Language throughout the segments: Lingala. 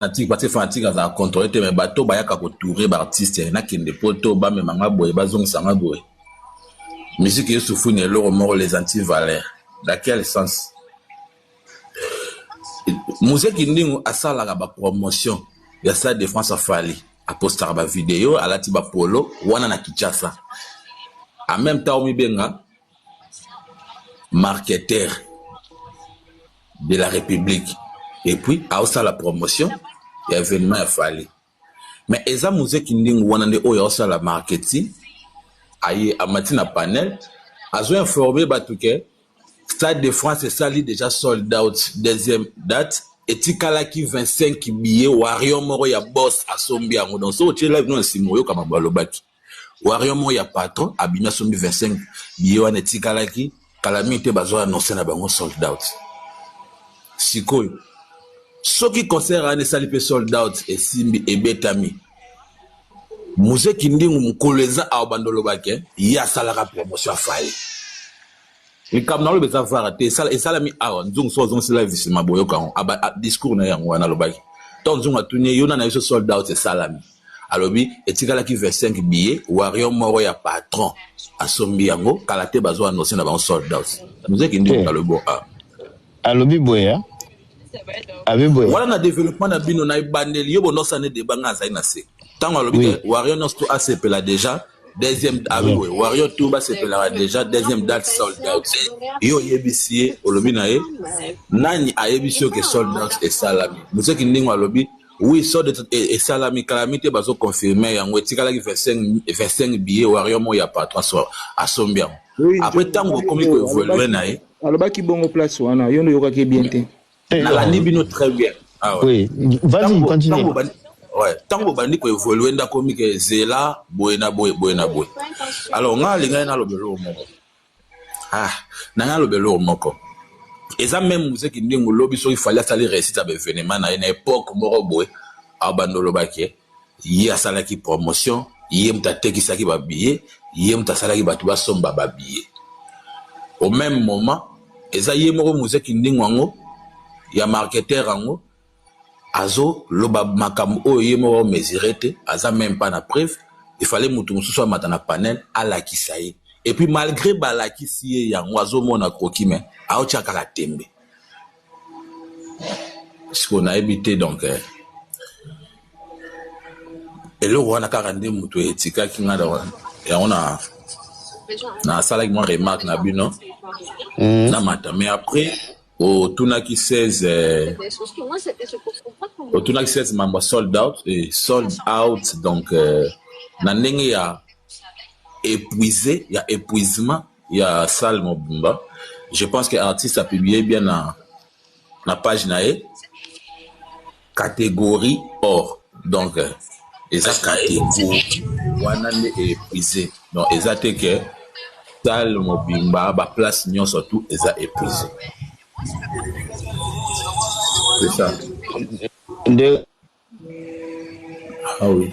fanatique parce que fanatique azala contrôle te mais bato bayaka kotoure baartiste nakende poto bamema nga boye bazongisa nga boye musique yesufu na eloko moko les anti valeur na quel sens muse kindingu asalaka bapromotion ya stade de france afali apostaka bavideo alati bapolo wana na kinshasa en même temps omibenga marketeur de la Republique et puis aosala promotion ya événement ya Fally mais eza Mose Kindingu wana nde oyo aosala marketing aye amati na panel azo informer bato ke Stade de France esali déjà sold out deuxième date etikalaki 25 billets Warrior moko ya boss asombi yango donc soki otie live no na nsima oyoka makambo alobaki Warrior moko ya patron abimi asombi 25 billet wana etikalaki kala mingi te bazo annonce na bango sold out sikoyo soki concert wana esali mpe sold out esimbi ebetami muze kindingu mokolo eza awa bandolobake ye asalaka promotion afali likambo na loba eza vara te esalami awa nzungu so azongisi live nsima boyoka yango discours na ye yango wana alobaki to nzungu atuni ye yona na biso sold out esalami alobi etikalaki 25 billet warrior moko ya patron asombi yango kala te bazwa anonse na bango sold out mzee kindingu eh. alobi ah. alobi boye ah. abi boye wana na développement na bino na ebandeli yo bonosani deba ngai azali na se ntango alobi te warrior nyonso to asepela déjà deuxième ah oui, oui. warrior tour basepelaka déjà deuxième date sold out ye oyebisi ye olobi na ye nani ayebisi yo ke sold out esalami moseki ndingo alobi oui sold out e, esalami kalami te bazoconfirme yango etikalaki 25, 25 billet warrior moko ya patron asombi yango apres ntango okomi koevolue na ye alobaki bongo place wana yo nde oyokaki ye bien te Eh, nalandi bino très bien ah, ouais. oui. vas-y continue ouais. ntango bobandi koevolue nde akomi ke zela boye na boye boye na boye alors ngai alingaki naloba eloko moko ah, nanga aloba eloko moko eza meme muzeki ndenge olobi soki fali asali réussite ya baevenement na ye na epoque moko boye abanda olobaki ye asalaki promotion ye moto atekisaki ba billet ye moto asalaki bato basomba ba billet au meme moment eza ye moko muze kindingo yango ya marketeur yango azoloba makambo oyo ye moko amesure te aza meme pas na preuve efale moto mosusu amata na panel alakisa ye epuis malgre balakisi ye yango azomona kroki me aotya kaka tembe siko nayebi te donc eh, eloko wana kaka nde moto etikaki nga yango na nasalaki mwa remarque na bino mhm. na mata mais après otunaki 16 eh, otunaki 16 mambo sold out et sold out donc eh, na ndenge ya épuisé ya épuisement ya salle mobimba je pense que artiste a publie bien na na page na ye catégorie or donc euh, eza catégorie wana nde épuise donc eza te ke salle mobimba baplace nyonso tout eza épuise c'est ça nde ah oui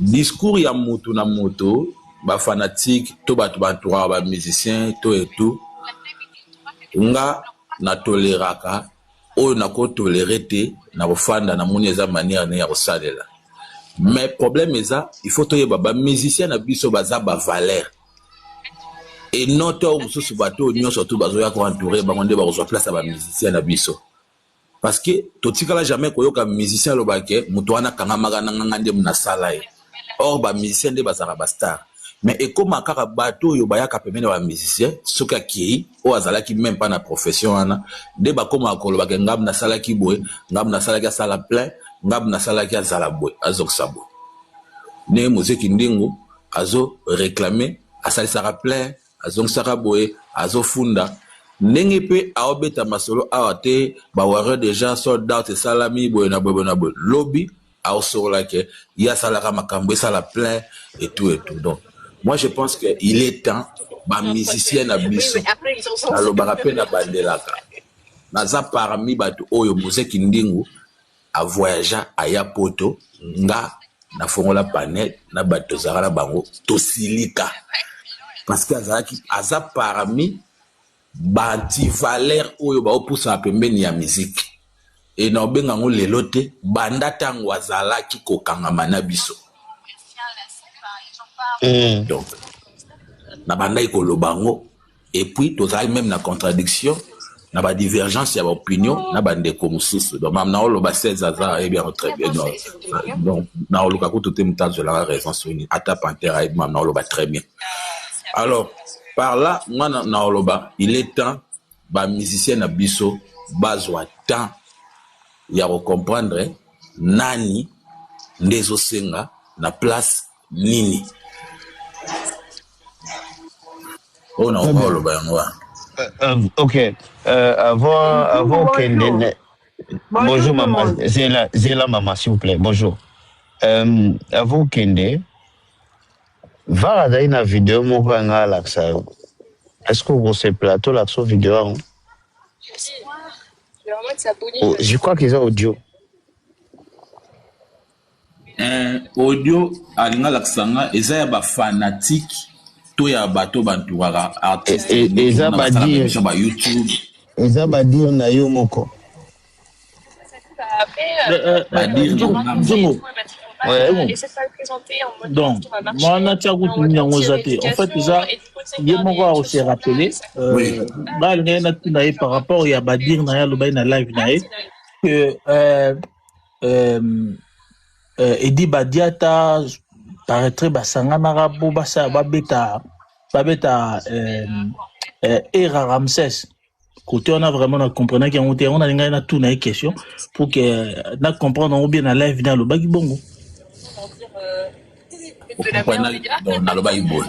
Discours ya moto na moto, ba fanatiques to batu ba entouraka ba musiciens to et tout, nga na toleraka oyo nako tolerer te, nako fanda namoni eza manière naye ya kosalela mais problème eza il faut toyeba ba musiciens na biso baza ba valeurs et non tango mosusu batu oyo nionso tout bazoya ko entourer bango nde bakozua place ya ba musiciens na biso. Parce que totikala jamais koyoka musicien aloba ke moto wana akangamaka na nga, nga nde nasala ye. Or ba musiciens nde bazalaka ba stars. Mais ekoma kaka bato oyo bayaka pembeni ya ba musiciens soki akeyi oyo azalaki meme pas na profession wana nde bakomaka koloba ke nga nasalaki boye, nga nasalaki asala plein, nga nasalaki azala boye, azokisa boye. Ndenge Muzee Kindingu azo reclamer asalisaka plein. Azongisaka boye azofunda ndenge pe aobeta masolo awa te ba warrior deja sold out esalami boye na boye boye na boye lobi aosolola ke ye asalaka makambo esala plein et tout et tout donc moi je pense que il est temps ba musicien na biso nalobaka pe na bandelaka naza parmi bato oyo mose kindingu a voyagea aya poto nga na fongola panel na batu tozalaka na bango tosilika parce que azalaki aza parmi ba antivaleur oyo baopusana pembeni ya miziki e na obenga yango lelo te banda ntango azalaki kokangama na biso mm. donc nabandaki koloba yango et puis tozalaki meme na contradiction na ba divergence ya ba opinion na ba ndeko mosusu donc mam naoloba 16 aza ayebi yango très bien donc donc naoluka kutu te moto azwelaka raison soki nini ata pantere ayebi mam naoloba très bien alors par là nga na- naoloba il est temps ba musicien na biso bazwa temps ya kocomprendre nani nde ezosenga na place nini oyo na okoka oloba yango wana ok euh, avant avant okende bonjour mama zela zela mama s'il vous plaît bonjour euh, avant okende vara azali na video moko ya ngai alakisa yo est ce que okosepela tolakisa video yango oh, je crois qu'ils ont audio Eeh audio alingi alakisa nga eza ya ba fanatique to ya bato ba entouraka artiste E- e- neti eza mona ba basalaka dire emission ba YouTube eza ba dire na yo moko Euh, euh, ba euh, dire na Nzungu, nga moko. Nzungu, Ouais. Nzungu. Donc, moi, na tia kutu nini yango eza te. En fait, eza ye moko ako se rappeler. Euh, Oui. ba lingai na tuna ye par rapport ya ba dire na ye alobaki na live na ye que euh, euh, euh, edi badiata paraître basanganaka po basala babeta babeta euh, euh, era ramses kote wana vraiment na comprenaki yango te yango nalingaki natuna ye question pour que euh, na comprendre yango bien na live nde alobaki bongo nalobaki boye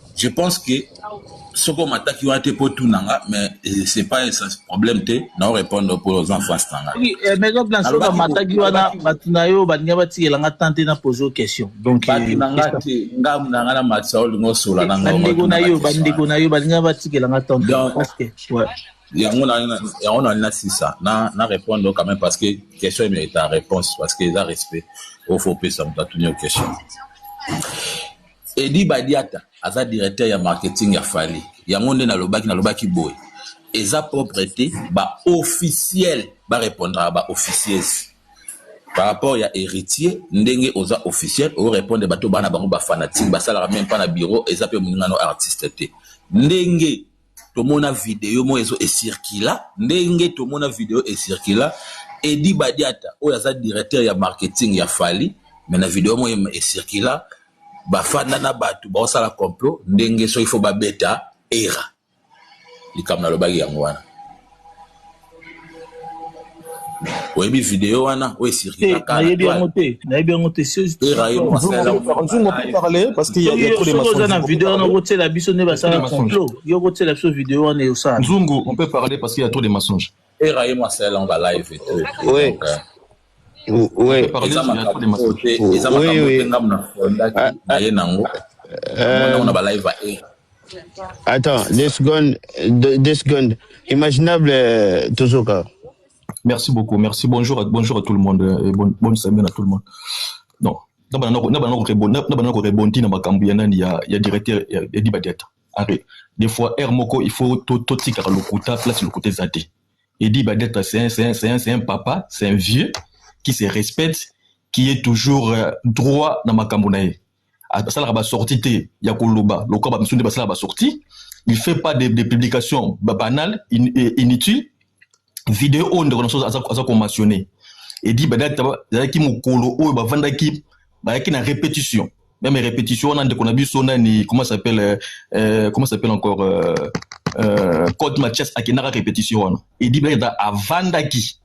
je pense que soki omataki wana te mpo otuna nga mais eh, c'est pas problème te nao répondre mpo oza en face na ngai eh, maison blanche soki bamataki wana bato na yo balinga batikela nga temps te na pose o question donc bato eh, na nga te nga na nga na matisa olinga osola na nga bandeko na yo bandeko na yo balinga batikela nga temps te parce que ouais yango yango nali na sisa na na répondre quand même parce que question emerita réponse parce que eza respect oyo fo opesa moto atuni yo question Eddy Badiata aza directeur ya marketing ya Fally yango nde nalobaki nalobaki boye eza propre te ba officiel ba repondraka ba officieuses par rapport ya Heritier ndenge oza officiel o repondre bato bana bango ba fanatique basalaka meme pas na bureau eza pe moningano artiste te ndenge tomona video moko ezo ecircula ndenge tomona video ecircula edi badiata oyo aza directeur ya marketing ya fali me na video moko ecircula bafanda na bato baosala complot ndenge soki fo babeta era likambo nalobaki yango wana oyebi video wana oyo esirkilakanayebi yango te nayebi yango te oza na video wana okotiela biso nde basala complot yo okotiela biso video wana eosala nzungu on peut parler parce qu'il y a trop de mensonges eraye mwasi asalelanga live te eza makambo oyo te eza makambo oyo te ngambo na fondaki ah, na ah, ye nango euh, na balive ya e attends deux secondes deux secondes imaginable euh, tozoka merci beaucoup merci bonjour bonjour à tout le monde euh, et bonne, bonne semaine à tout le monde non na bana ko rebondir na makambo ya nani ya ya directeur ya dibadiata arre des fois heure moko il faut totikaka lokuta place lokuta eza te Eddy Badetre c'est un, c'est un, c'est un, c'est un papa, c'est un vieux qui se respecte, qui est toujours euh, droit na makambo na ye. Asalaka ba sortie te ya koloba lokola ba misundi basala ba sortie. Il fait pas des de publications banales, in, euh, inutiles. Vidéo oyo ndeko na biso aza, aza ko mentionner. Eddy Badetre ezalaki mokolo oyo bavandaki bayaki na répétition. meme repetition wana ndeko na biso nani comment s'appelle euh, euh, comment s'appelle encore euh, euh, code mathias akendaka repetition wana edi beta avandaki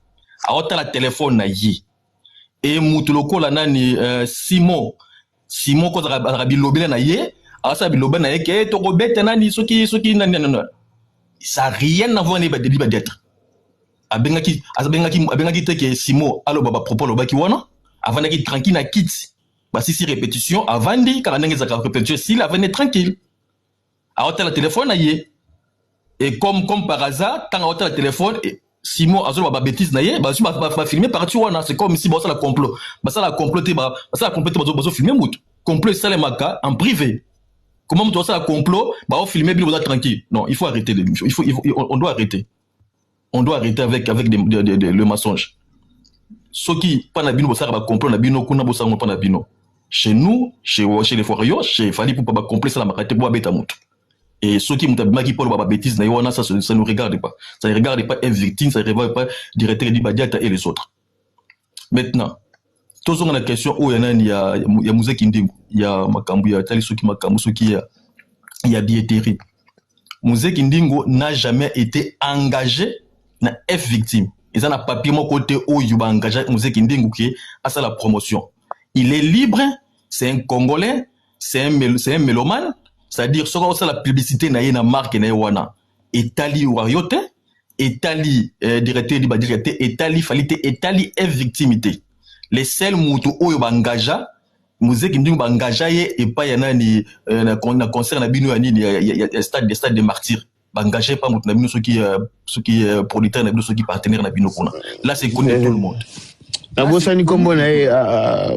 aotala telefone na ye e mutu lokola nani euh, simon simon ko azalaka bilobela na ye asala bilobela na ye ke eh, tokobeta nani soki soki nani nani ça rien na voir ne badeli badêtre abengaki abengaki abengaki te ke simon aloba bapropos alobaki wana avandaki tranquille na kiti basisi repetition avandi kaka ndenge ezalaka repetition esili avandi tranquille aotala telefone na ye e comme comme par hasard ntango aotala telefone e, simon azoloba babétise na ye bazwi bafilme parti wana c'est comme si basala complot basala complot te basala complot te bazofilme motu complot esalemaka en privé comment motu basala complot baofilme bino boza tranquille non il faut arrêter l'émission il faut, il faut on doit arrêter on doit arrêter avec, avec de, de, de, de, le mensonge soki mpa na bino bosalaka bacomplot na bino kuna bosango mpa na bino chez nous chez, chez les forio chez fali pupa bacomplot esalamaka te po abeta motu et soki moto abimaki poloba babétise na ye wana ça ne regarde pas ça ne regarde pas un victime ça ne regarde pas directeur du badiata et les autres maintenant tozonga na question oyo ya nani ya, ya muze kindingu ya makambo ya tali soki makambo soki ya, ya bieterie muze kindingu n'a jamais été engagé na f victime eza na papier moko te oyo baengage muze kindingu ke asala promotion il est libre c'est un congolais c'est un, un mélomane c'est-à-dire soki osala publicité na ye na marque na ye wana etali wario te etali eh, directeur edi badika te etali fali te etali e victime te le seul moto oyo baengagea muzeki ndingo baengagea ye epai ya nani eh, na, na concert na bino ya nini ya, ya, ya stade, de stade de martyr baengagea epai moto na bino soki, eh, soki eh, producteur na bino soki partenaire na bino kuna là c'est connu de tout le monde nabosani nkombo na ye ah, ah,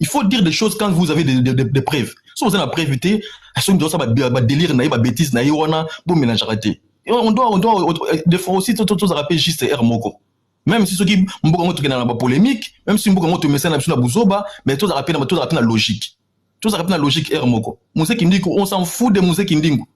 il faut dire des choses quand vous avez des, des, des, des preuves so oza na preuve te soki ndosa badélire na ye babétise na ye wana bomélangeaka te on doit, on doit, des fois aussi tozalaka mpe juste r moko même si soki mboka yango tokenda na bapolémique même si mboka yango tomesana na biso na buzoba mais tozalaka mpe na logique tozalaka mpe na logique r moko mozeki ndiko on s'en fout de mozeki ndingo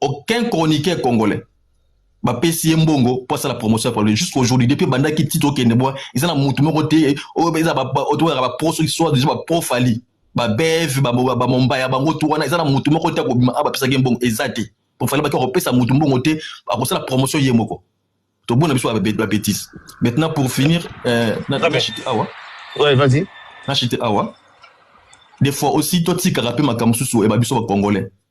aucun chroniqueur congolais bapesi ye mbongo mpo asala promotion ya paloli jusqu'à aujourd'hui depuis ebandaki titre okende bwa eza na motu moko te oyo eza toyaka bapro soki soit déjà bapro fali babeve bamomba ya bango tu wana eza na motu moko te akobima a bapesaki ye mbongo eza te mpo fali baki akopesa motu mbongo te akosala promotion ye moko tobona biso babetise maintenant pour finir euh, nachite awa ouais, vas-y nachite awa des fois aussi totikaka mpe makambo mosusu eba biso bacongolais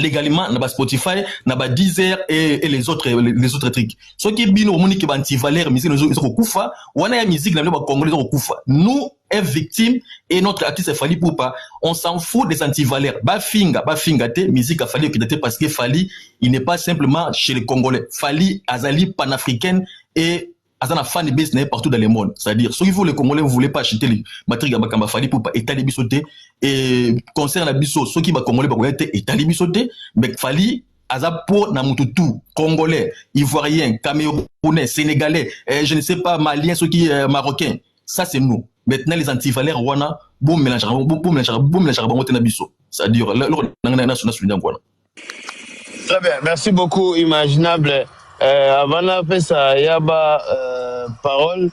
légalement na ba Spotify na ba Deezer et, et les autres les autres trucs soki bino omoni ke ba antivaleur musique ezo kokufa wana ya musique na bino ba congolais ezo kokufa nous est victime et notre artiste Fally Poupa on s'en fout des antivaleurs ba finga ba finga te musique a Fally okita te parce que Fally il n'est pas simplement chez les congolais Fally azali panafricaine et aza na fan base na ye partout dans le monde c'est-à-dire soki vous les congolais vous voulez pas acheter les matrique ya makambo afali pupa etali biso te e concert na biso soki bacongolais bakoya te etali biso te mais fali aza po na motu tout congolais ivoirien camerounais sénégalais eh, je ne sais pas malien soki eh, marocain ça c'est nous maintenant les antivaleurs wana bomelangeaka bango te na biso c'est-à-dire loko nanga na sunda yango wana Très bien, merci beaucoup Imaginable. Euh, avant napesa ya ba euh, parole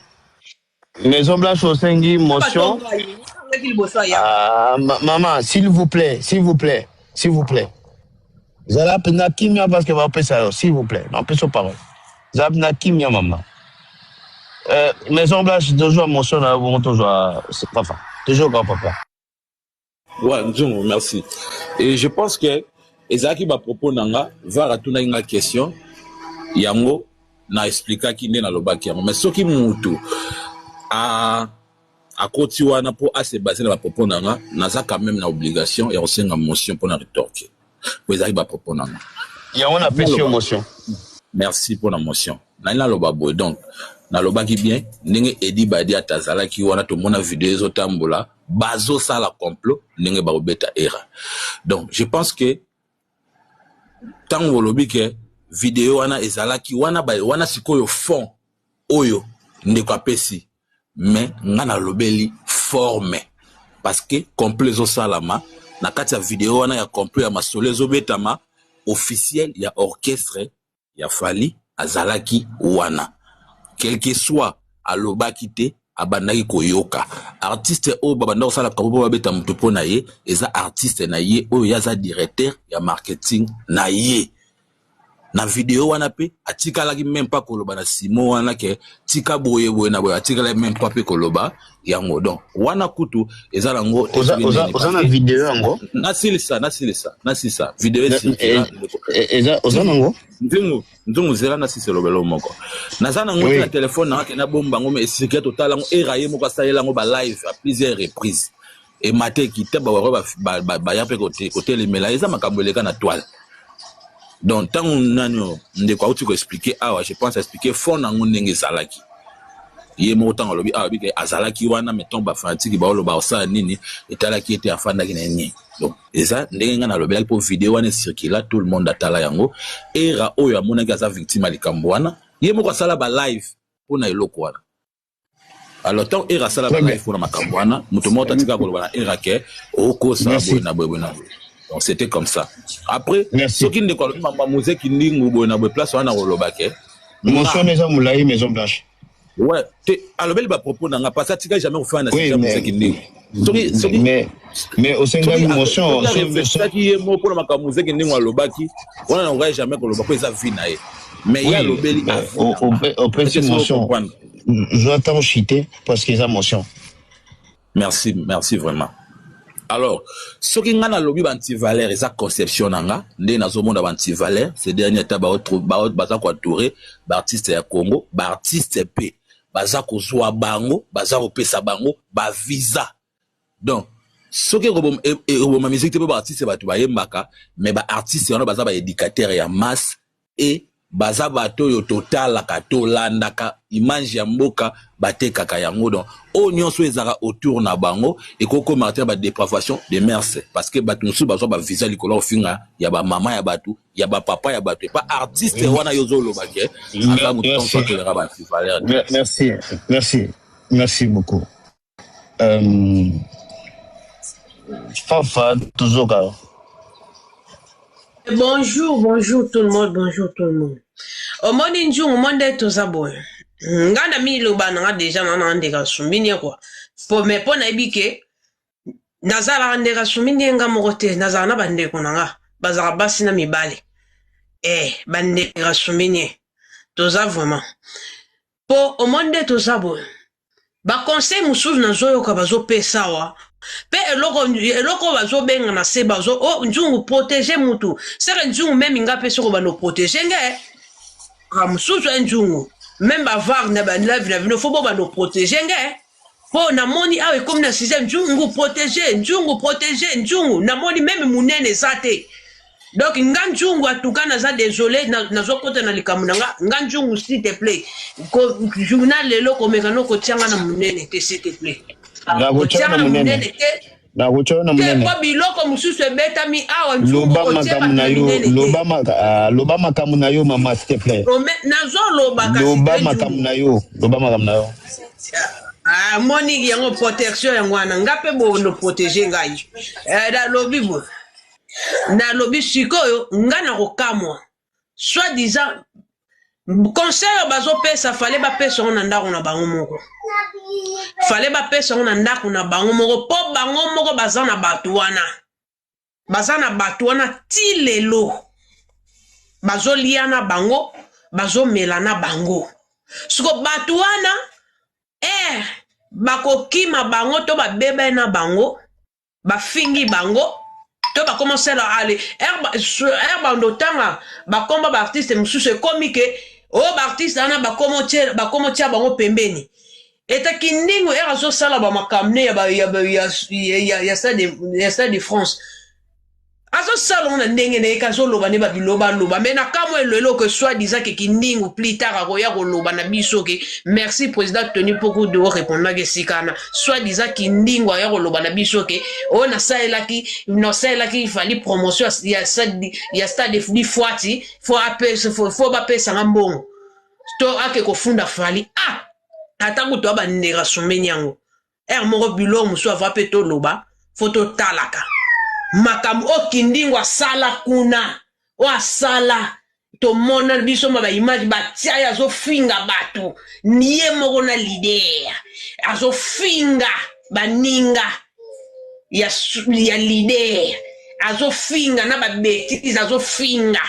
Maison Blanche osengi motion. Ah, ma- maman, s'il vous plaît, s'il vous plaît, s'il vous plaît. Zala pena kimia parce que bapesa yo, s'il vous plaît. Napesa parole. Zala pena kimia maman. Euh, Maison Blanche tozwa motion na yo bongo tozwa papa. Toujours grand papa. Ouais, Nzungu, merci. Et je pense que ezalaki ba propos na nga, var atunaki nga question yango na explikaki nde nalobaki yango. Mais soki mutu a akoti wana mpo ase base na ba propos na nga, naza quand même na obligation ya kosenga motion mpo na retorquer. po ezalaki ba propos na nga yango na pesi yo motion merci pona motion nali naloba boye donc nalobaki bien ndenge edi badi ata azalaki wana tomona video ezotambola bazosala complot ndenge bakobeta era donc je pense que ntango olobi ke video wana ezalaki wana, wana sikoyo fond oyo ndeko apesi mais nga nalobeli forme parce que complot ezosalama na kati ya video wana ya complot ya masolo ezobetama officiel ya orchestre ya fali azalaki wana quelque soit alobaki te abandaki koyoka artiste oyo babanda kosala kapo mpo babeta moto mpo na ye eza artiste na ye oyo ye aza directeur ya marketing na ye na video wana pe atikalaki meme pas koloba na simo wana ke tika boye boye na boye atikalaki meme pas pe koloba yango donc wana kutu eza nango oza na video yango nasilisa nasilisa nasilisa video eh, eh, eza oza nango nzungu nzungu zela nasilisa elobelo moko naza nango te na telefone nanga ke nabomba yango me esika totala yango era ye moko asalela yango ba live a plusieurs reprises emata ekita bawaroi baya mpe kotelemela eza makambo eleka na toile donc ntango nani oyo ndeko auti koexplike awa je pense aexplike fond na yango ndenge ezalaki ye moko ntango alobi awa bike azalaki wana me ntango bafanatiki baoloba osala nini etalaki ete afandaki na nini donc eza ndenge ngai nalobelaki mpo video wana ecircula tout le monde atala yango era oyo amonaki aza victime ya likambo wana ye moko asala balive mpo na eloko wana alors ntango era asala balive mpona makambo wana moto moko tatika koloba na era ke okosa boye na boye boye na boye donc c'était comme ça après soki ndeko alobi mambo ya mozeki ndingu boye na boye place wana nakoloba ke motion eza molai maison blanche ouais te alobeli bapropos na nga parce atika jamais kofana na sika mozeki ndingu soki soki mais mais osengaki motion soki ye moko mpona makambo mozeki ndenge alobaki wana nakokai jamais koloba mpo eza vie na ye mais ye alobeli opesi motion zwa ntango chite parce que eza motion merci merci vraiment alors soki ngai nalobi bantivaleur eza conception na nga ndenge nazomona bantivaleur ce dernier ata baza koadoure baartiste ya congo baartiste mpe baza kozwa bango baza kopesa bango ba visa donc soki ekoboma e, e, musique te mpo baartiste bato bayembaka mais baartiste wana baza baédicateur ya masse e baza bato oyo totalaka tolandaka image ya mboka batekaka yango donc oyo nyonso oyo ezalaka autour na bango ekokoma ata badepravation de merce parce que bato mosusu bazwa bavisa likolo ya kofinga ya bamama ya bato ya ba papa ya bato epa artiste oui. wana yo ozoloba ke aza moto ntango atoleka ba antivaleur merci merci merci beaucoup euh, fafa tozoka bonjour bonjour tout le monde bonjour tout le monde omoni nzungu mo nde toza boye nga na miloba na nga deja na na ndeka sumbini ye kua po me mpo nayebi ke nazalaka ndeka sumi nde nga moko te nazalaka na bandeko na nga bazalaka basi na mibale eh bandeka sumi nie toza vraiment po omoni nde toza boye baconseil mosusu nazoyoka bazopesa awa mpe eloko eloko bazobenga na se bazo o oh, nzungu protege mutu seke nzungu meme nga mpe soko bando protege nge ka mosusu e eh, nzungu meme bavare na balave na bino fo bo bando protege nge Po na moni awa ekomi na sujet nzungu protege nzungu protege nzungu na moni meme munene eza te donc nga nzungu atuka naza desole nazokota na, na likambo na nga nga nzungu s'il te plaît ko journal lelo komeka no kotia nga na munene te s'il te plaît kotia nga na munene te nakotya yo na monene mpo biloko mosusu ebetami awa loba makambo na yo ah, loba makambo na yo mama s'il te plaît nazoloba loba makambo na yo loba makambo na yo ah, moni yango protection yango wana nga mpe bono protege ngai eh, nalobi bo nalobi sikoyo nga nakokamwa soit disant conseil oyo bazopesa fale bapesa yango na ndako na bango moko fale bapesa yango na ndako na bango moko mpo bango moko baza na bato wana baza na bato wana ti lelo bazolia na bango bazomela na bango siko bato wana ere eh, bakokima bango to babebani na bango bafingi bango to bakoma osala ale r bando otanga bakomba baartiste mosusu ekomi ke o oh, baartiste wana bakoma otya bango pembeni eta kindingu r azosala bamakamne ya stade de france azosala ngo na ndenge na ye kazoloba nde babiloba aloba me nakamwa elelo ke soi disant ke kindingu plus tard akoya koloba na biso ke merci président tony mpoku de orepondaki esikana soi disant kindingu aya koloba na biso ke oyo oh, nasalelaki nasalelaki ifali promotion ya, ya stade di fwati fo bapesanga mbongo to ake kofunda fali ah ata kutu abandeka sumeni yango ere moko bilo mosusu ava mpe toloba fo totalaka makambo oyo kindingo asala kuna oyo asala tomona biso ma baimage batia ye azofinga bato ye moko na lider azofinga baninga ya, ya lider azofinga na babetise azofinga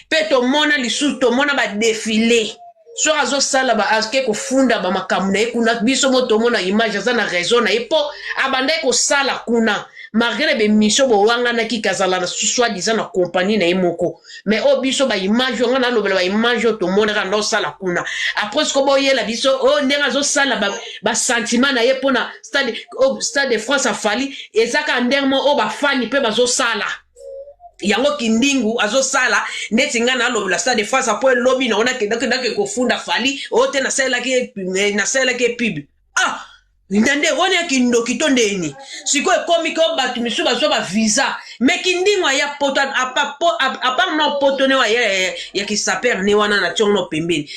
mpe tomona lisusu tomona badefile soki azosala ba ake kofunda ba makambo na ye kuna biso mo tomona image aza na raison na ye mpo abandaki kosala kuna malgré na bemission bowanganaki kazala na soit disant na compagnie na ye moko mais oyo biso baimage oyo ngai nalobela baimage oyo tomonaka nda osala kuna après siko boyela biso oyo oh, ndenge azosala basentiment na ye mpona stade, oh, stade de france afali eza kaka ndenge mo oyo bafani mpe bazosala yango kindingu azosala ndeti ngai nalobela stade fasa mpo elobi nango nakendakendaki kofunda fali oyo te nasalelaki eh, nasalelaki epibe ah na nde wani ya kindoki to ndeni sikoyo ekomi ko bato misusu bazwa bavisa me kindingu aya poto apart na poto ne aya ya kisaper ne wana na tiongo no pembeni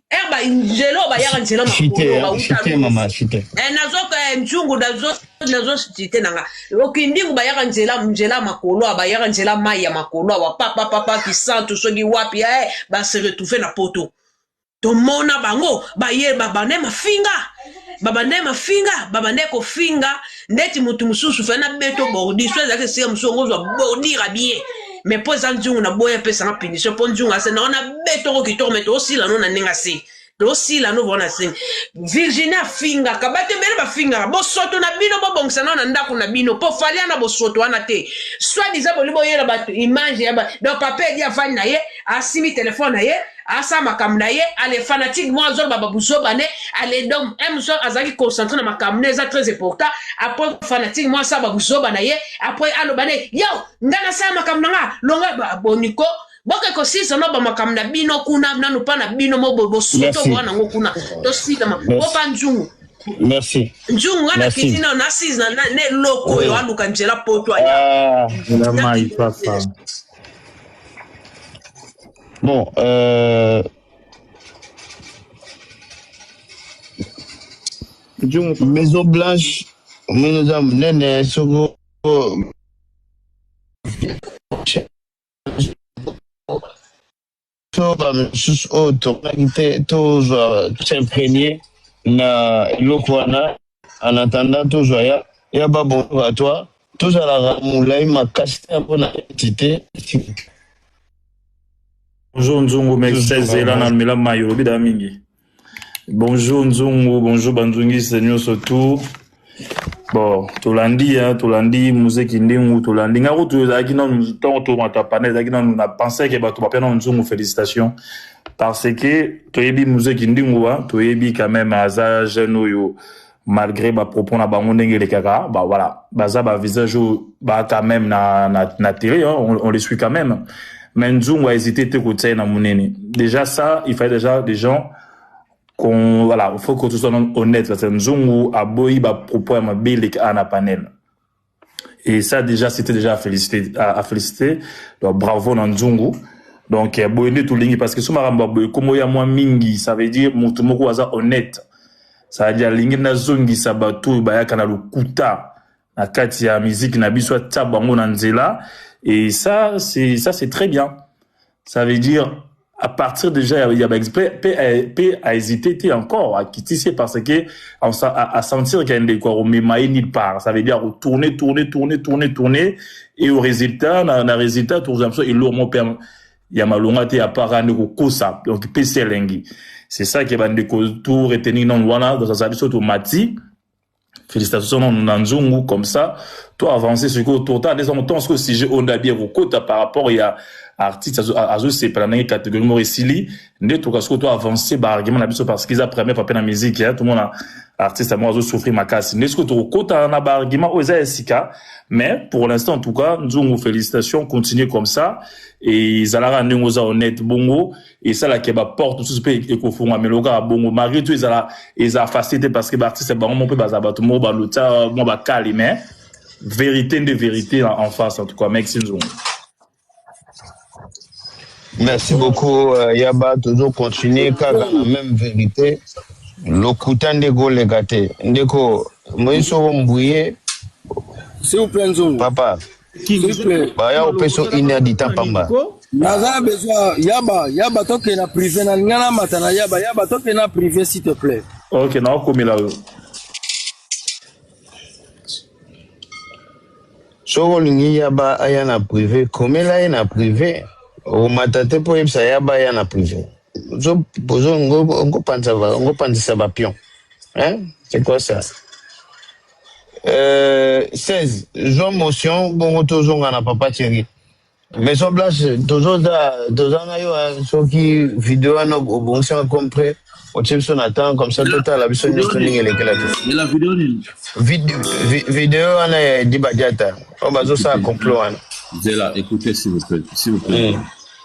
er eh, banzela oyo bayaka nzela makolo bauta eh, nazoka nzungu nazo nazo site nanga okindingu bayaka nzela nzela makolo a bayaka nzela mai ya makolo awa papa papa kisantu soki wapi eh, ba se retrouver na poto tomona bango baye babande mafinga babande mafinga babande kofinga ndeti mutu mususu fana beto bordi so ezalaki esika mosusu yango ozwa bordira bien me mpo eza nzungu na boya epesanga punition mpo nzungu ase naona betoko kitoko me toosila no na ndenge ase tosila no bona se virginie afinga kabate bele bafingaka bosoto na bino bobongisa nao na ndako na bino po fali ana bosoto wana te soit disant boli boyela bato image ya ba donc papa edi afani na ye asimi telefone na ye asala makambo na ye ale fanatique mwa azoloba babuzoba ne ale donc emson azalaki concentre na makambo ne eza très important après fanatique mwa asala babuzoba na ye après aloba ne yo ngai nasala makambo na nga longa boniko boke kosisa no bamakambo na bino kuna nanu mpa na bino mo bosuto boa nango kuna tosilama bopa nzungu merci nzungu nga na kiti nao nasize na eloko oyo oh. aluka nzela poto aya ah. bon euh... maison blanche mino eza monene soko to bamisusu oyo tomonaki te tozwa s'imprégner na eloko wana en attendant tozwa ya ya ba bonjour à toi tozalaka molai makasi te mpo na entité bonjour nzungu mexes zela na mela mayi olobi dala mingi Bonjour Nzungu, bonjour Banzungiste nyonso tout. Bon, tolandi ya, tolandi Muse Kindingu, tolandi nga kutu ezalaki nanu ntango tomata pana ezalaki nanu na pensais ke bato bapia nanu Nzungu félicitations parce que toyebi Muse Kindingu wa, toyebi quand même aza jeune oyo malgré ba propos na bango ndenge elekaka ba voilà baza ba visage oyo ba quand même na na, na télé hein, on, on les suit quand même mais Nzungu a hésité te kotia ye na munene déjà ça il fallait déjà des gens qu'on voilà faut que tout soit honnête parce que Nzungu aboyi ba propos ya mabe eleka na panel Et ça déjà, c'était déjà à féliciter. À, à féliciter. Donc, bravo Nanzungu. Donc, euh, boye nde tolingi parce que soki makambo ya boye kombo ya mwa mingi, ça veut dire moto moko aza honnête. Ça veut dire alingi nazongisa bato oyo bayaka na lokuta na kati ya miziki na biso atia bango na nzela et ça c'est ça c'est très bien. Ça veut dire à partir déjà ya ya ba exprès pe a- pe a hésité te encore a kitise parce que on sa- a, a sentir qu'il y a ndeko ya komema ye nulle part. Ça veut dire ko tourner tourner tourner tourner tourner et au résultat na, na résultat tourner comme ça et lourd mon père ya malonga te à part ne ko kosa donc pe selengi. C'est ça que bande ko tout retenir non wana dans sa biso to mati Félicitations non na nzungu comme ça to avancer ce que tourta des hommes tant ce sujet on a bien kokota par rapport ya artiste azo azo sepela na catégorie moko esili nde to kasko to avancer ba argument na biso parce qu'ils a première fois na musique hein tout le monde artiste moi azo souffrir makasi nde ce que to kokota na ba argument oyo eza esika mais pour l'instant en tout cas nzungu félicitations continuer comme ça et zalaka ndenge oza honnête bongo esala ke ba porte mosusu mpe ekofungwamelo kaka bongo malgré tout ezala eza facile te parce que baartiste bango moko mpe bazala bato moko balota mwa bakali mais vérité nde vérité en face en tout cas mexi nzongo merci beaucoup euh, yaba tozo continuer kaka na même vérité lokuta nde koleka te ndeko moyi soko mbuye papa Baya opesa une heure du temps pamba. Naza besoin yaba yaba toke na privé na linga na mata na yaba yaba toke na privé s'il te plaît. Ok na okomela yo. Soki olingi yaba aya na privé komela ye na privé omata te mpo oyebisa yaba aya na privé ozopanzisa bapion hein? c'est quoi ça Euh, 16 zwa motion bongo tozonga na papa cheri maison blanche tozoza toza na yo ah, soki video wana obongisi yango comme près otie biso na temps comme ça totala biso nyonso ndenge elekela te ela video nini Vide- vi- video wana ya edi badiata oyo bazosala complot wana zela écoutez s'il vous plaît s'il vous plaît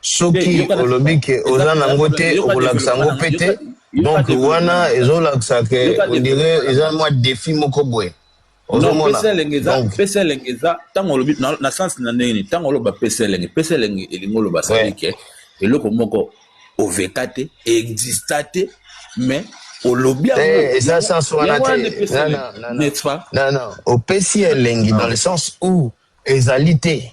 Soki olobi que oza na ngo te okolakisa ngo pe te donc wana ezolakisa que on dirait eza mwa defi moko boye ozomona donc pesa elengi eza ntango olobi na sens na ndenge nini ntango oloba pesa elengi pesa elengi elingi oloba sadi ke eloko moko oveka te exista te mais olobi eh, eza sens wana te opesi elengi dans le sens où ezali te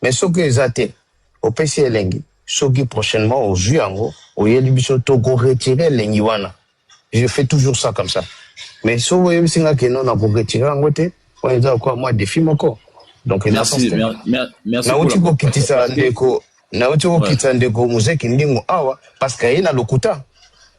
Mais soki eza te opesi elengi soki prochainement ozui yango oyeli biso toko retire elengi wana je fais toujours ça comme ça mais soki oyebisi nga ke non nako retire yango te wana eza lokola mwa defi moko donc eza merci, sens mer, mer, merci nauti kokitisa ndeko nauti kokitisa ndeko muzeki ndingo awa parce que aye na lokuta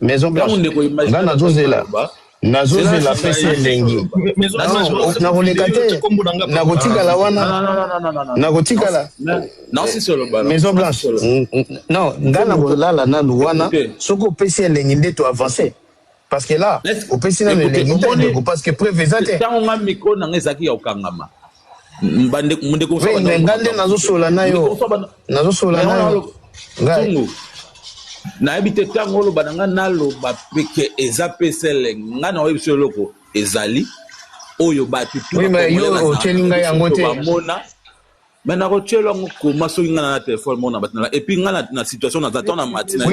Maison Blanche. Nga nazo zela. Nazo zela pesi elengi. Nako leka te. Nako tikala wana. Nako tikala. Maison Blanche. Non, nga nako lala nanu wana. Soko pesi elengi nde to avancer. Parce que là, opesi nanu elengi te ndeko parce que preuve eza te. Tango nga micro nanga ezaki ya okangama. nga nde nazosola na yo nazosola na yo ngai nayebi te ntango oloba na ngai naloba peke eza pesele ngai na oyebisa eloko ezali oyo bato tuotyeli ngai yango te bamona me nakotyela yango koma soki ngai na na telefone moko na bato na epui ngai na situation naza to na matina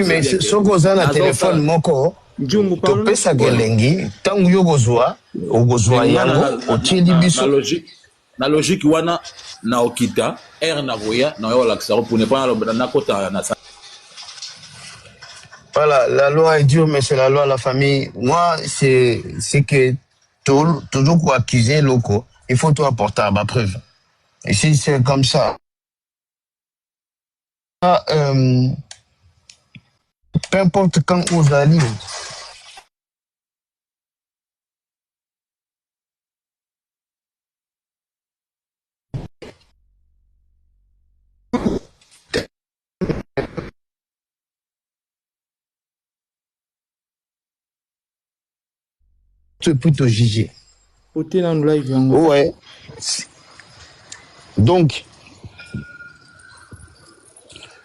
soki oza na telefone moko Njungu pardon. Topesaka elengi ntango yo okozwa okozwa Nga na- yango na- na- otieli na- na biso logique- na logique wana na okita ere na koya na yo olakisa ko pune mpona aloba nakota na sa- Voilà, la loi est dure, mais c'est la loi de la famille. Moi, c'est c'est que tou- toujours pour accuser loco, il faut tout apporter à ma preuve. Et si c'est comme ça, ah, euh, peu importe quand ozali tu peux te juger ote na live yango ouais donc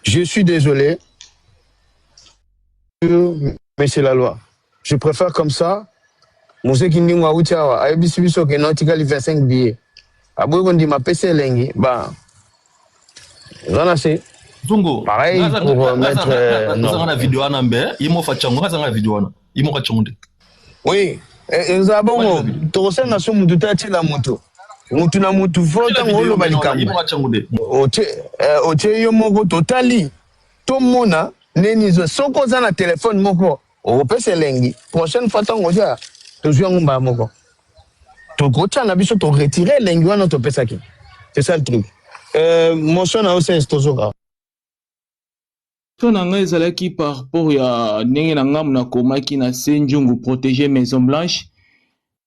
je suis désolé mais c'est la loi je préfère comme ça mozeki ndingo awuti awa ayebisi biso ke notikali 25 billet aboyi kondima apesi elengi ba oza na se zungu pareil pour euh, mettre euh, non. na video wana mbe ye mofa chango azanga video wana ye moko acongo nde oui eh, eza bongo tokosenga so mutu te atiela mutu mutu na mutu fo ntango oloba likambo otie eh, yo moko totali tomona neni zo soki oza na telefone moko okopesa elengi prochaine fois ntango oza tozwi yango mbala moko tokotya na biso toretire elengi wana topesaki c'est ça le truc euh, motion na ocs tozoka Question na nga ezalaki par rapport ya ndenge na nga muna komaki na se njungu proteger maison blanche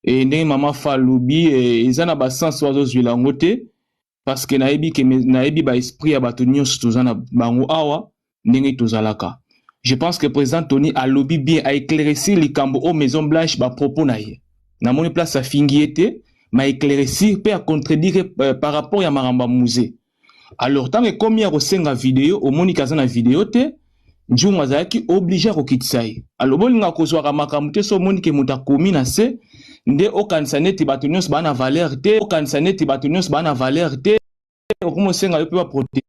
et ndenge mama fa lobi eza na ba sens wazo zwila ngo te parce que na yebi que na yebi ba esprit ya bato nionso toza na bango awa ndenge tozalaka je pense que president tony alobi bien a éclaircir likambo o maison blanche ba propos na ye na moni place afingi ye te ma éclaircir pe a contredire euh, par rapport ya makambo ya musée alors ntango ekomi ya kosenga video omoni ke aza na video te njungu azalaki oblige ya kokitisa ye alobi olingaka kozwaka makambo te so omoni ke moto akomi na se nde okanisa neti bato nyonso baa na valeur te okanisa neti bato nyonso baa na valeur te okomi osenga yo mpe baprotege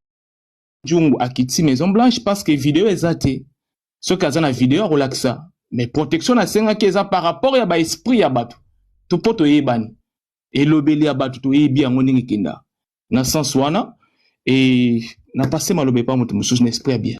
njungu akitisi maison blanche parce que video eza te soki aza na video akolakisa mais protection nasengaki eza par rapport ya baesprit ya bato to mpo toyebani elobeli ya bato toyebi yango ndenge ekenda na sens wana et na passe maloba epa moto mosusu na esprit ya bien.